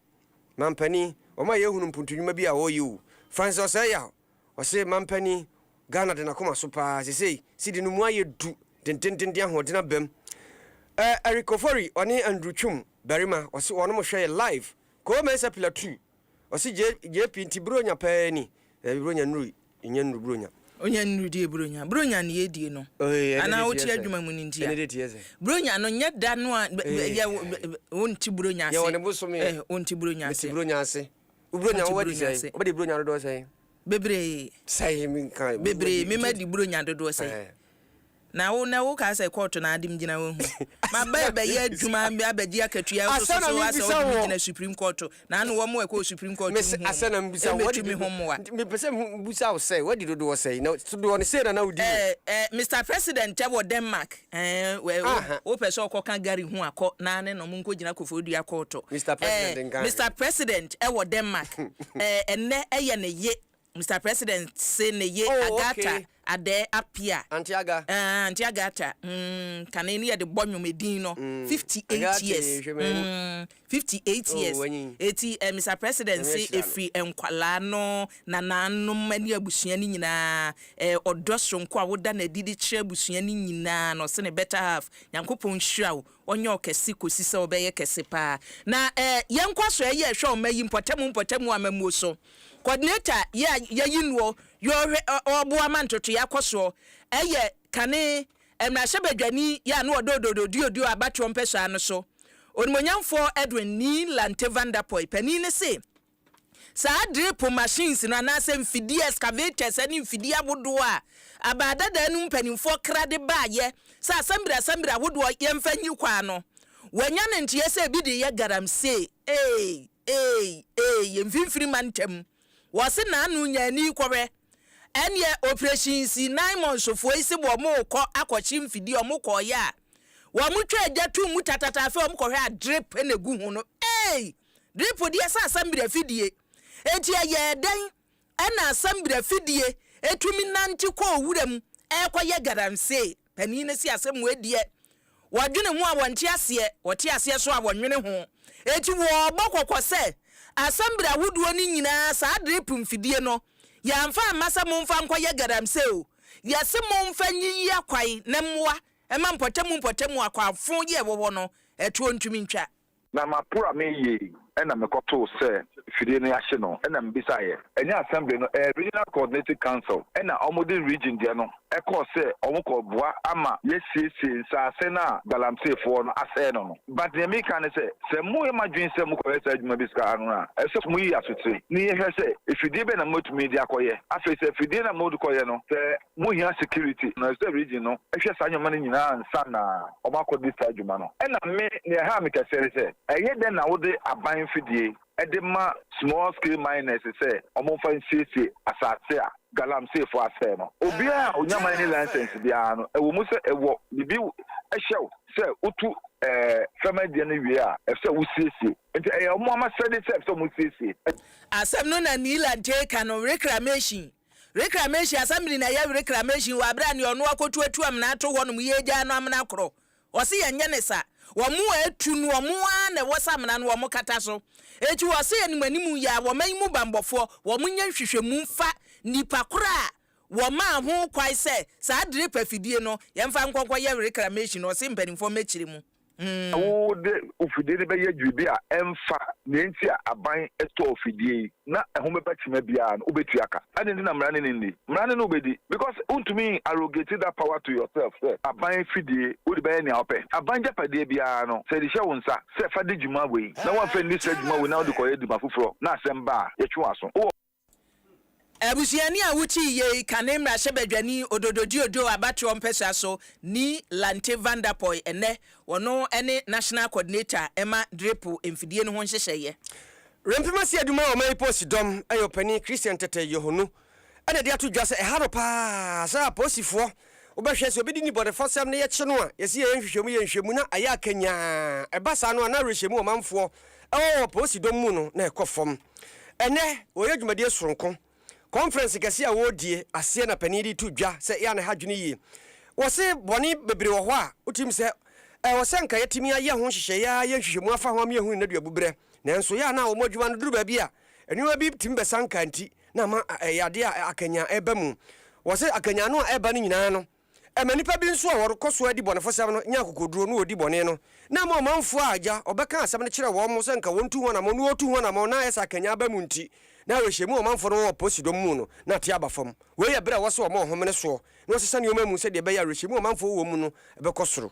Mampani, wɔma yɛ hunu mpuntu nwuma bi a wɔ yɛ o. Francis Ɔsɛeyaw, ɔse Mampani, Ghana de n'akoma so paa, sesei cedi no mu ayɛ du dendenden de ahoɔden aba mu. Ɛ Eric Ofori, ɔne Andrew Twum barima, ɔse wɔnom hwɛ yɛ live. Koo Mensah Pilatu, ɔse JP nti Buronya paa ni, daabi Buronya nnurui. Nya nnuru Buronya. Onya nnuru die Buronya. Buronya no yɛ die no. Anaa wote adwuma mu no nti a. Buronya no nyɛ da no a wonte Buronya ase. Yɛwɔ ne bosome. Wonte Buronya ase. Mete Buronya ase. Buronya wowɔ di sɛn? Wobɛdi Buronya dodoɔ sɛn? Bebree. Sɛn menka. Bebree. Mema di Buronya dodoɔ sɛn? Na wo nɛ wo kaa sɛ kɔɔto na ade m gyina wo ho ma ba bɛ yɛ adwuma abɛ gye akatua wo so so asɛ ɔde me gyina supreme kɔɔto na ano wɔ mo ɛkɔ wɔ supreme kɔɔto nhu ɔmo ɛbɛ tu me ho mmoa. Me pɛ sɛ me busa wo sɛ wadi dodoɔ sɛn na dodoɔ no sei na na wo di mu. Ɛɛ ɛɛ Mister President ɛ wɔ Denmark ɛɛ wɛ wo wo pɛ sɛ ɔkɔ ka Gary ho a kɔ na ne na ɔmo nkɔ gyina kofo dua kɔɔto ɛɛ Mister President ɛ wɔ Denmark ɛɛ ɛnɛ ɛyɛ ne ye Mister President se ne ye Oh Agatha okay. Adeh Appiah. Auntie Aga. Aah Auntie Agatha mm kane no yɛde bɔ nwom edin no Mm 58 Agatha years ee hwɛ m'ani. mm 58 Oh years w'anyin. eti eh Mister President Nyame se ahyira no. efiri nkwalaa no, nanaanom ɛne abusua no nyinaa eh ɔdɔ soronko a woda no adi de kyerɛ abusua no nyinaa no ɔse ne better half Nyankopɔn nhyira wo ɔnyɛ wo kɛse kosi sɛ wobɛyɛ kɛse paa na eh yɛnkɔ so ɛyɛ hwɛ ɔma yi mpɔtamu mpɔtamu amammuo so. Coordinator yi a yɛayi noɔ yɛ ɔhwɛ ɔɔboa ma ntotoeɛ akɔ soɔ yɛ kane mmarahyɛbadwani yɛ a ne ɔda Ododo Diodio abatoɔ mpɛsoa no so, Onimuonyamfoɔ Edwin Nylante Van Der Poy. Panin no se saa drip machines no anaasɛ mfidie excavators ne mfidie ahodoɔ a Abaadadaa no mu mpanimfoɔ kra de baeɛ sɛ asɛmbere asɛmbere ahodoɔ yɛmfa nyi kwaa no, wɔanya ne nteɛ sɛ ebi de yɛ garamsee. Eeii. Eei eei yɛ mfimfini ma ntɛm wɔ se naano nya ani kɔhwɛ ɛneɛ operation si nine months foɔ yi se wɔ mo kɔ akɔ kye mfidie ɔmo kɔɔ yɛ a wɔ mo twa agya tum mu tatata afei ɔmo kɔhwɛ a drip na egu ho no eei drip deɛ sɛ asɛm brɛ fidie eti ɛyɛɛ dɛn. Ɛnna asɛmberɛ afidie tumi nante kɔɔ wura mu rekɔyɛ galamsee. Panin no se asɛm wei deɛ, wɔdwene ho a wɔnte aseɛ, wɔte aseɛ nso a wɔnnwene ho. Enti wɔrebɔ kɔkɔ sɛ, Asɛmberɛ ahodoɔ no nyinaa, saa drip mfidie no, yɛamfa amma sɛ momfa nkɔyɛ galamsee o. Yɛse momfa nyiyi akwan na mmoa mma mpɔtamu mpɔtamu akwan fo yi a ɛwɔ hɔ no, ɛtoɔ ntumi ntwa. Na mapora me yei na mekɔtoo sɛ fidie no yɛahye no na mebisaeɛ ɛnyɛ Assembly no ɛyɛ Regional Coordinating Council na wɔde Region deɛ no kɔɔ sɛ wɔkɔboa ama yɛasiesie nsaase no a Galamseyfoɔ no asɛe no no. But deɛ mereka ne sɛ, sɛ moyɛ mo adwene sɛ mokɔyɛ saa adwuma bi saa no a, ɛsɛ sɛ moyi asotire na yɛhwɛ sɛ fidie bɛn na moatumi de akɔyɛ. Afei sɛ fidie no a mode kɔyɛ no, sɛ Mo hia security na reserve region no hwɛ saa nneɛma no nyinaa ansa na wɔn akɔ di saa dwuma no. Ɛna me nea ɛhaa me kɛseɛ ne sɛ, ɛyɛ dɛn na wode aban mfidie de ma small scale miners sɛ wɔn mfa nsiesie asaase a galamseefoɔ asɛe no? Obiara a ɔnya mining license biara no, ɛwɔ mu sɛ ɛwɔ biribi hyɛ wo sɛ wotu fam adeɛ no wie a, ɛsɛ sɛ wosiesie. Nti ɛyɛ wɔn ara asɛde sɛ ɛsɛ sɛ wɔsiesie. Asɛm no na Neil Adjei ka no reclamation Reclamation Assembly na yɛwe Reclamation wɔ aberɛ a neɛ ɔno akɔtu atu amena ato hɔ nom yi agyaa no amena korɔ. Ɔse yɛnyɛ no sa. Wɔn a atu no wɔn ara na ɛwɔ sɛ amena no wɔn kata so. Enti wɔse anim anim yi ara wɔman yi mu banbɔfoɔ wɔn nyɛ nhwehwɛmu mfa nipa korɔ a wɔmaa ho kwan sɛ saa drip afidie no yɛmfa nkɔ nkɔyɛ Reclamation no ɔse mpaninfoɔ mmɛkyire mu. Sɛ wode wo fidie no bɛyɛ biribi a ɛmfa nea enti a aban tɔɔ fidie yi na ɛho bɛba kyima biara no, wobɛtua ka. Adɛn nti na mmara no nni? Mmara no na wobɛdi because wontumi arrogate that power to yourself sɛ aban fidie wode bɛyɛ nea wopɛ. Aban agyapadeɛ biara no sɛ yɛde hyɛ wo nsa sɛ fa di dwuma wei na woamfa anni saa dwuma wei na wode kɔyɛ adwuma foforɔ na asɛm ba a, yɛtwe w'aso. Wowɔ. Abusuani a wote yiye yi ka ne mmarahyɛbadwani Ododoji Ojo abatoɔ mpɛsoa so ni Lante Van Der Poy ɛnnɛ, ɔno ne National Coordinator ɛma drip mfidie no ho nhyehyɛeɛ. Rempema si adwuma a ɔman yi posi dɔm ɛyɛ ɔpanin Christian Tetteh Yohonu ɛna ɛde ato dwa sɛ ɛha no paa sɛ aposifoɔ Wobɛhwɛ, sɛ obi de nnibɔnefɔsɛm no yɛ kye no a, yɛse yɛyɛ nhwehwɛmu, yɛ nhwɛmu na ayɛ akanyaa. Ɛba saa no a, na awerɛhyɛmu wɔ ɔmanfoɔ wɔ wɔ polisi dɔm mu no, na ɛkɔ fam. Ɛnnɛ, wɔreyɛ dwumadie soronko. Kɔnferɛnse kɛseɛ a wɔredie aseɛ na panin yi de to dwa sɛ yɛ a na ɛha adwene yie. Wɔse bɔne bebree wɔ hɔ a, wotirim sɛ ɛwɔ sɛ anka yɛatumi ayɛ ho nhyehyɛeɛ ara, ayɛ nhwehwɛmu afa ho ama yɛahunu nnaduabu berɛ. Nanso yɛ a na wɔn adwuma no duru baabi a, nneɛma bi tumi bɛsanka nti, na ama ɛyɛ adeɛ a akanyan ɛba mu. Wɔse akanyan no a ɛba no nyinaa no, ɛma nnipa bi nso a wɔrekɔ so adi bɔnefosɛm no nya akokoduro na wɔdi bɔne no, na ɛma ɔmanfoɔ a agya ɔbɛka asɛm no kyerɛ wɔn sɛ nka wɔntu ho anammɔn no wɔtu ho anammɔn na ayɛ sɛ akanyan aba mu nti na awerɛhyɛmu a ɔmanfoɔ no wɔ wɔ aposidɔm mu no na ate aba fam. Wei yɛ berɛ a ɛwɔ sɛ wɔma ɔhomene soɔ na wɔsesa nneɛma mu sɛdeɛ ɛbɛyɛ a awerɛhyɛmu a ɔmanfoɔ wɔ mu no bɛkɔ soro.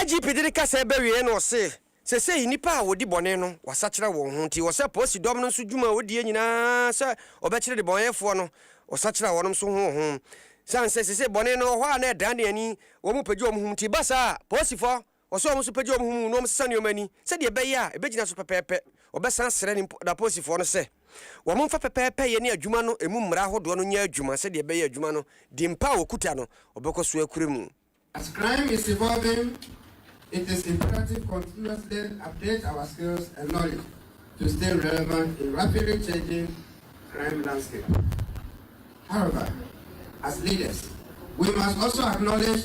IGP de ne kasaa bɛwieɛ na ɔse, Sesei nnipa a wɔdi bɔne no wɔasakyera wɔn ho nti wɔsɛ polisi dɔm no nso dwuma a wɔdie nyinaa sɛ wɔbɛkyere debɔneyɛfoɔ no wɔsakyera wɔnom nso ho wɔho sane sɛ sesei bɔne no wɔ hɔ a na ɛdane ani wɔn mu pagya wɔn ho nti ba saa a polisifɔ Ɔsɛ sɛ wɔn nso pagya wɔn ho mu na wɔsesa nneɛma ani sɛdeɛ ɛbɛyɛ a ɛbɛgyina so pɛpɛɛpɛ. Ɔbɛsan asrɛ ne daposifoɔ no sɛ wɔmfa pɛpɛɛpɛyɛ ne adwuma no mu mmara ahodoɔ no nyɛ adwuma sɛdeɛ ɛbɛyɛ adwuma no din pa a wɔkuta no, wɔbɛkɔ so akura mu. As crime is evolving, it is imperative continuously update our skills and knowledge to stay relevant in rapidly changing crime landscape. However, as leaders, we must also acknowledge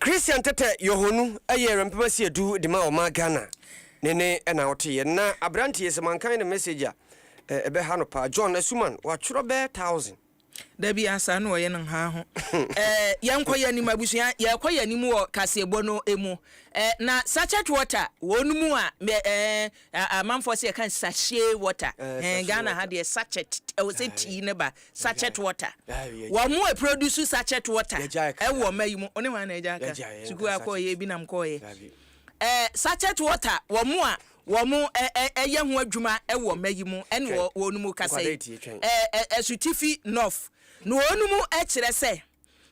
Christian Tetteh Yohonu yɛ Rempema Sia Du de ma ɔman Ghana. Ne ne na ɔteeɛ. Na abranteɛ sɛ mankan ne message a ɛbɛha no paa. John Asuman, watwerɛ bɛyɛ thousand. Dabi asaa na ɔyɛ no nhaa ho eh yɛn kɔ yɛn anim abusua yɛn kɔ yɛn anim wɔ kaseɛbɔ no emu eh na sachet water wɔn mu a eh Amanfoɔ se yɛka no sachet water hɛn Ghana ha deɛ sachet ɛwɔ sɛ tii no ba sachet water wɔn mo produce sachet water ɛwɔ ɔma yi mu one hwan na agyae ka sukuu a kɔɔ yɛ ebi nam kɔɔ yɛ ɛɛ sachet water wɔn mo a wɔn mo ɛyɛ ho adwuma ɛwɔ ɔma yi mu ɛne wɔ wɔn mo kasa yi ɛɛ asutifi nɔf na wɔn mo ɛkyerɛ sɛ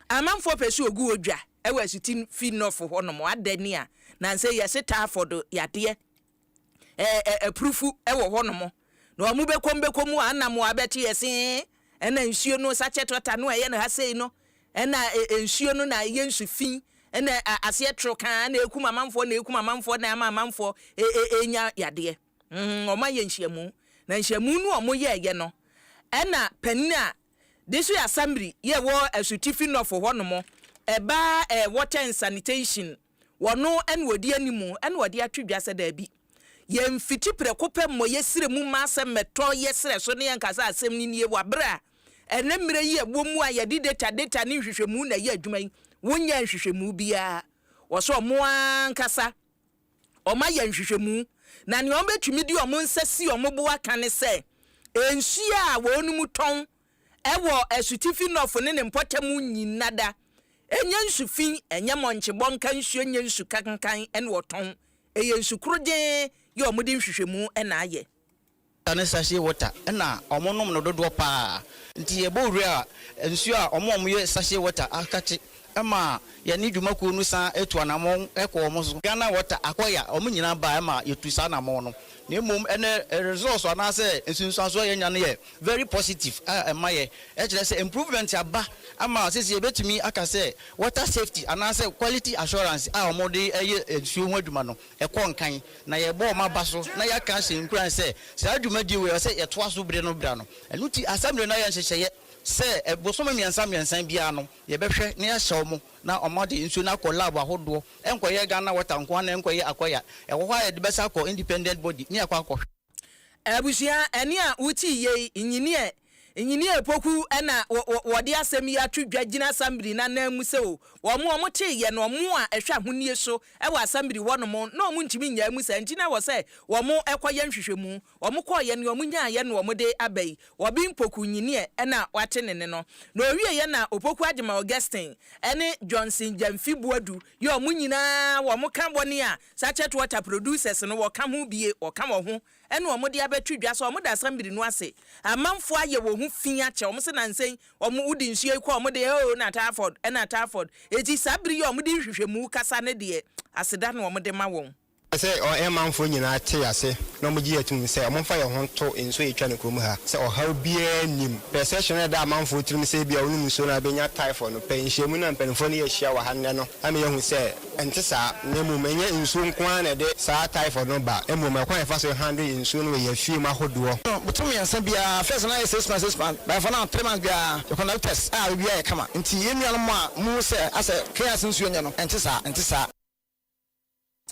amanfoɔ pɛ sɛ ogu wɔ dwa ɛwɔ asutifi nɔf hɔ nom adɛ ni a na nse yɛse taa fɔdo yadeɛ. ɛɛ ɛ apurufu wɔ hɔnom, na wɔn bɛkɔ mu bɛkɔ mu a na mmoa bɛte yɛ se, ɛna nsuo no sachet water no a ɛyɛ no ha sei no, ɛna ɛ nsuo no na ɛyɛ nsu fi, ɛna ɛ aseɛ toro kaa, ɛna ɛkum amanfoɔ, ɛna ɛkum amanfoɔ, ɛna ɛma amanfoɔ ɛ ɛ ɛnya yadeɛ. Mm, wɔn ayɛ nhyiamu, na nhyiamu no wɔn yɛɛyɛ no, ɛna panin a District Assembly yɛ wɔ Asutifi Nɔfo hɔnom, ɛbaa ɛ water and sanitation Wɔno na ɔdi anim na wɔde ato dwa sɛ daabi, yɛmfiti prɛko pɛ mmɔ yɛn srɛ mu mma asɛm mmɛtɔ yɛn srɛ so na yɛnka sɛ asɛm no nie wɔ bere a ɛne mmerɛ yi a ɛwɔ mu a yɛde data data ne nhwehwɛmu na ɛyɛ adwuma yi. Wonyɛɛ nhwehwɛmu biara wɔ so, wɔn ankasa wɔayɛ nhwehwɛmu na nea wɔbɛtumi de wɔn nsa si wɔn bo aka ne sɛ nsuo a wɔnom tɔn wɔ asutifi nɔfo ne ne mpɔtam nnyina da. Ɛnyɛ nsu fi, ɛnyɛ mmɔnkyebɔ nka nsu, ɛnyɛ nsu kankan ne wɔtɔn. Ɛyɛ nsu korogyee yɛ wɔde nhwehwɛmu na ayɛ. Water ne sachet water na wɔnom no dodoɔ pa ara. Nti yɛbɔ wura nsuo a wɔn a wɔyɛ sachet water akate ɛma yɛne dwuma kuo no san tu anamɔn kɔ wɔn so. Ghana Water, Akoya, wɔn nyinaa baa ɛma yɛtu saa anamɔn no. Na mmom ɛnɛ results anaasɛ nsunsuansoɔ a yɛanya no yɛ very positive a ɛma yɛ kyerɛ sɛ improvement aba ama seesei yɛbɛtumi aka sɛ water safety anaasɛ quality assurance a wɔde yɛ nsuo ho adwuma no ɛkɔ nkan na yɛrebɔ wɔn aba so na yɛaka ahyɛ nkuran sɛ saa dwumadie wei ɛwɔ sɛ yɛtoa so berɛ no berɛ ano. Ɛno nti Assembly no ayɛ nhyehyɛeɛ sɛ bosome mmiɛnsa mmiɛnsa biara no, Yɛbɛhwɛ na yɛahyɛ wɔn na wɔn ade nsuo no akɔ lab ahodoɔ, ɛnkɔyɛ Ghana water nko ara na ɛnkɔyɛ Akoya. Ɛwɔ hɔ a yɛde bɛsa akɔ independent body ne akɔ akɔhwɛ. Abusua, ɛne a wotie yei, Engineer Engineer Opoku na wɔde asɛm yi ato dwa gyina Assembly no ananmu sɛ wɔn a wɔtee yɛn no, wɔn a ɛhwɛ ahonie so wɔ Assembly hɔnom no, wɔntumi nnyaa mu saa nti na ɛwɔ sɛ wɔkɔyɛ nhwehwɛmu. Wɔn kɔɔeɛ ne wɔn nyaaeɛ na wɔn de aba yi, wɔbe mpoku nyineɛ ɛna wate ne ne no. Na ɔwieɛ na opoku agyema Augustine ɛne Johnson Gyamfi Boadu yɛ wɔn nyinaa wɔn ka wɔn a Sachet Water Producers no wɔka ho bie wɔka wɔn ho ɛna wɔn de abɛto dwa sɛ wɔn da Assembly no ase amanfoɔ ayɛ wɔn ho fii akyɛ wɔn se nansa yi wɔn wode nsuo yi kɔ wɔn de oo na Tarford ɛna Tarford eti saa bere yi a wɔn de nhwehwɛmu kasa ne deɛ aseda na wɔn de ma wɔn. Sɛ ɔmanfoɔ nyinaa te ase na wɔgye yɛ tom sɛ wɔmfa yɛn ho nto nsuo a ɛtwa no kurom ha sɛ ɔhaw biara nnim. Pɛ sɛ hyɛ no da amanfoɔ tirim sɛ ebia wonom nsuo no a bɛnya typhoid no, pɛ nhyiamu no a mpanimfoɔ no yɛ hyia wɔ ha nnɛ no ama yɛahu sɛ ɛnte saa na mmom ɛnyɛ nsuo nko ara na ɛde saa typhoid no ba mmom ɛkwan a yɛfa so handle nsuo no wɔ yɛn afie mu ahodoɔ. Botome mmiɛnsa biara, first no ayɛ six months six months, by for now three months biara yɛ conduct test a biribiara yɛ kama. Nti yɛn nuanom a mohu sɛ asɛ Kenyans nsuo nyɛ no, ɛnte saa, ɛnte saa.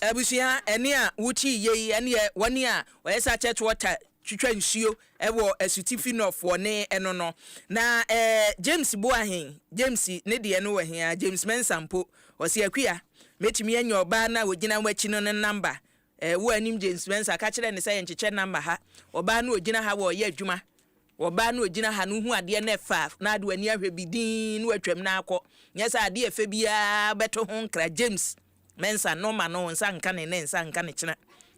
Abusua ɛne a wotie yei ɛneɛ wɔne a wɔyɛ saa church water twitwa nsuo wɔ asutifi nɔf wɔ ne ɛno no na ɛɛ James boa hen James ne deɛ no wɔ hen a James Mensah mpo ɔse Akua mɛtumi anya ɔbaa no a ɔgyina wo akyi no no number ɛɛ wo a nim James Mensah ka kyerɛ no sɛ yɛnkyekyɛ number ha ɔbaa no ɔgyina ha wɔ ɔyɛ adwuma Ɔbaa no a ogyina ha no hu adeɛ na ɛfa na ade w'ani ahwɛ bi dinn na watwam na akɔ. Nyɛ sɛ adeɛ a ɛfɛ biara bɛto ho nkra. James, Mensah, Norma no nsa nka ne nnɛ, nsa nka ne kyena.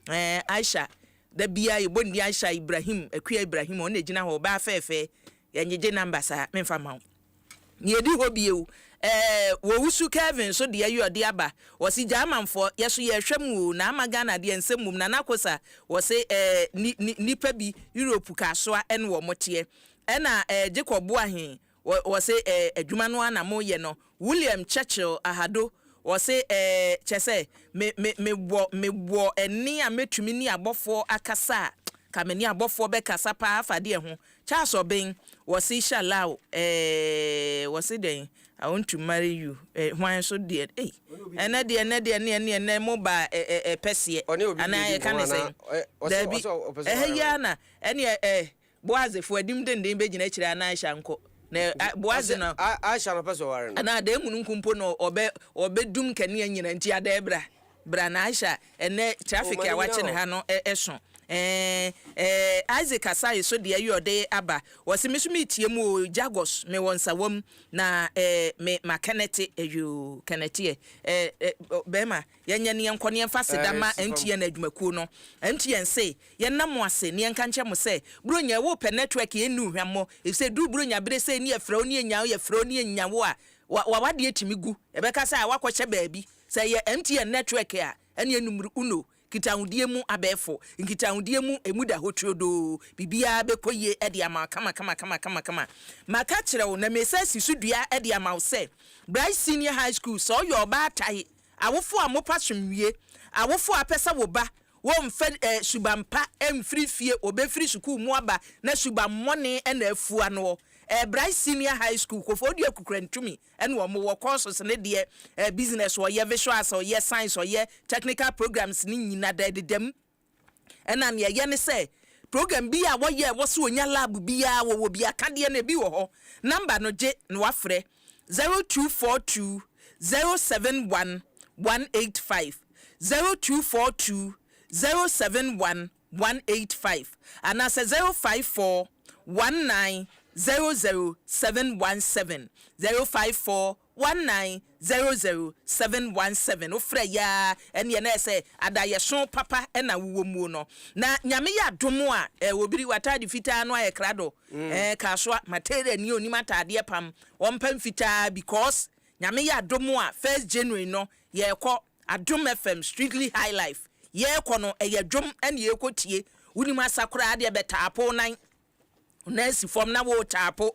Ɛɛ, Aisha, da biara yɛbɔ ne din Aisha, Ibrahim, Akua Ibrahim, ɔno na ɛgyina hɔ, ɔbaa fɛɛfɛɛ, yɛngyegye namba saa, memfa mma wo. Nea edi hɔ bio, ɛɛ, w'owusu Kelvin nso deɛ yi ɔde aba, ɔse Gyamanfoɔ, yɛso yɛrehwɛ mo oo, na ama Ghana deɛ nsɛm mmom, Nana Kosa, ɔse ɛɛ, ni, ni, nnipa bi, Europe kaasoa ɛne wɔn teɛ, ɛna ɛɛ, Jacob Boahen, ɔ, ɔse ɛɛ, adwuma no ara na moyɛ no, William Churchill Ahado, ɔse ɛɛ, kyɛsɛ, me, me, me wɔ, me wɔ ɛnne a mɛtumi ne abɔfoɔ akasa a, nka me ne abɔfoɔ bɛkasa paa afa adeɛ ho, Charles Obeng, wɔse hyɛ law eeii wɔse dɛn I want to marry you eh hwan nso deɛ ei ɛnɛ deɛ ɛnɛ deɛ ɛneɛ ɛneɛ ɛnɛ mo baa eh eh eh pɛseɛ Ɔne obi anaa redi yɛka nkɔmmɔ ne anaa sɛn ɛ, ɔse daabi ɔse ɔpɛ sɛ ɛhɛ ɔware yi ara na ɛneɛ eh Boaz fo anim denden bɛgyina akyire a na Aisha nkɔ na Nti ah Boaz ɔse no a Aisha na ɔpɛ sɛ ɔware no. anaa adaa mununkum mpo na ɔbɛ ɔbɛdum nkanea nyina nti adaa bra. Bra na Aisha ɛnɛ traffic a wakye ne ha no ɛso ɛɛ ɛɛ Isaac Asare so deɛ yɛ ɔde aba ɔse me so me tie mu oo Jagos me wɔ nsawam na ɛɛ me ma kɛnɛte ɛyoo kɛnɛteɛ ɛɛ ɛ bɛɛma yɛnyɛ ne yɛnkɔ ne yɛnfa seda ma MTN adwumakuo no MTN se yɛnna mo ase ne yɛnka nkyɛ mo sɛ Buronya ɛwɔ pɛ network yɛ nni ohwa mmɔ efisɛ duru Buronya bere sɛ ɛni yɛfrɛ wo ne yɛnya wo yɛfrɛ wo ne yɛnya wo a wa wawadeɛ tumi gu ɛbɛka sɛ a wakɔ hyɛ baabi. Sɛ ɛyɛ MTN nɛtwɛɛke a, ɛneɛ numero uno, nkitahodie mu abɛɛfo, nkitahodie mu ɛmu da hɔ turodoo, biribiara bɛkɔ yie de ama wo kamakamakama. Maka akyerɛ wo na meresan asi so dua de ama wo sɛ, Bright Senior High School, sɛ ɔyɛ ɔbaa tae, awofoɔ a mopɛ asomdwie, awofoɔ a wopɛ sɛ wo ba, wɔmfa suban pa mfiri fie, ɔbɛfiri sukuu mu aba na suban mmɔne na afua noɔ, ɛyɛ Bright Senior High School, Koforidua Kukurantumi, ɛna wɔn wɔ courses ne deɛ eh, business ɔyɛ, visual arts ɔyɛ, science ɔyɛ, technical programs ne nyina da ɛdeda mu. Ɛna nea ɛyɛ ne sɛ program bi a wɔyɛ ɛwɔ sɛ onya lab biara wɔwɔ bi akadeɛ no ebi wɔ hɔ. Number no gye na wafrɛ 0242 071 185 0242 071 one eight five anaasɛ zero five four one nine zero zero seven one seven, zero five four one nine zero zero seven one seven. Wo frɛ yɛ aa ɛneɛ na ɛsɛ adayɛso papa ɛna wo wɔ muo no na Nyame yɛ adom a eh obiri w'ataade fitaa no ayɛ krado eh kasoa material ni onim ataadeɛ pam ɔmpa mfitaa because Nyame yɛ adom a first January no yɛkɔ Adom FM Strictly High Life yɛɛkɔ no ɛyɛ dwom ɛne yɛɛkɔ tie wonim asa koraa deɛ bɛ taapo wo nan wo nan si fam na woo taapo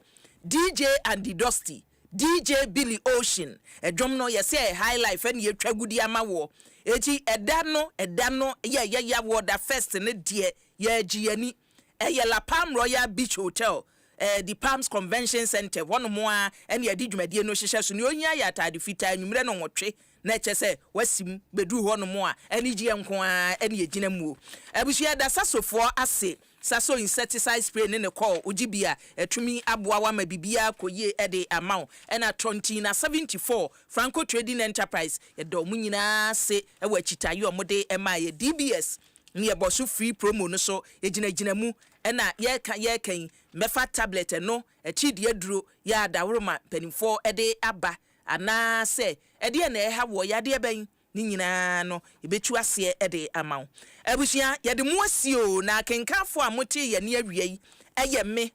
DJ Andy Dusty DJ Billy Ocean ɛdwom no yɛsɛ High Life ɛne yɛtwa gu de ama woɔ eti ɛda no ɛda no yɛ yɛ ya woɔ da first no deɛ yɛɛgye y'ani ɛyɛ La Palm Royal Beach Hotel ɛɛ The Palms Convention Centre hɔnom ara ɛne yɛde dwumadie no hyehyɛ so nea ohia yɛ ataade fitaa anwummerɛ nnɔnwɔtwe na ɛkyɛ sɛ wasim bɛduru hɔnom a, anigyeɛ nko ara ne ɛgyina muo. Abusua yɛda Sasofoɔ ase, Saso insecticide spray ne ne kɔɔ, wogye bi a, atumi aboa wo ama biribiara kɔ yie de ama wo, ɛna Tɔntina 74, Franco Trading Enterprise, yɛda wɔn nyinaa ase wɔ akyitaeɛ a wɔde maa yɛn, DBS ne yɛbɔ so free promo no so, yɛgyina gyina mu, ɛna yɛreka yɛreka yi, mɛfa tablet ɛno, atiridii aduro, yɛ a Daworoma mpanimfoɔ de aba, Anaasɛ ɛdeɛn na ɛreha woɔ? Yadeɛ bɛn? Ne nyinaa no yɛbɛtu aseɛ de ama wo. Abusua, yɛde mo asie o, na akenkanfoɔ a motee yɛn nne awia yi yɛ me,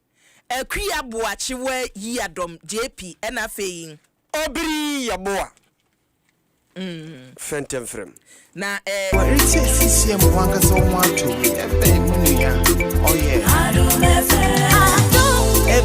Akua Boakyewa Yiadɔm JP, ɛna afei. Obiri Yeboah Fɛntɛmfrɛm. Na eh. Waretie sisia mu wankasa wo ho atɔ wi ɛbɛn mo nua ɔyɛ. Adom FM.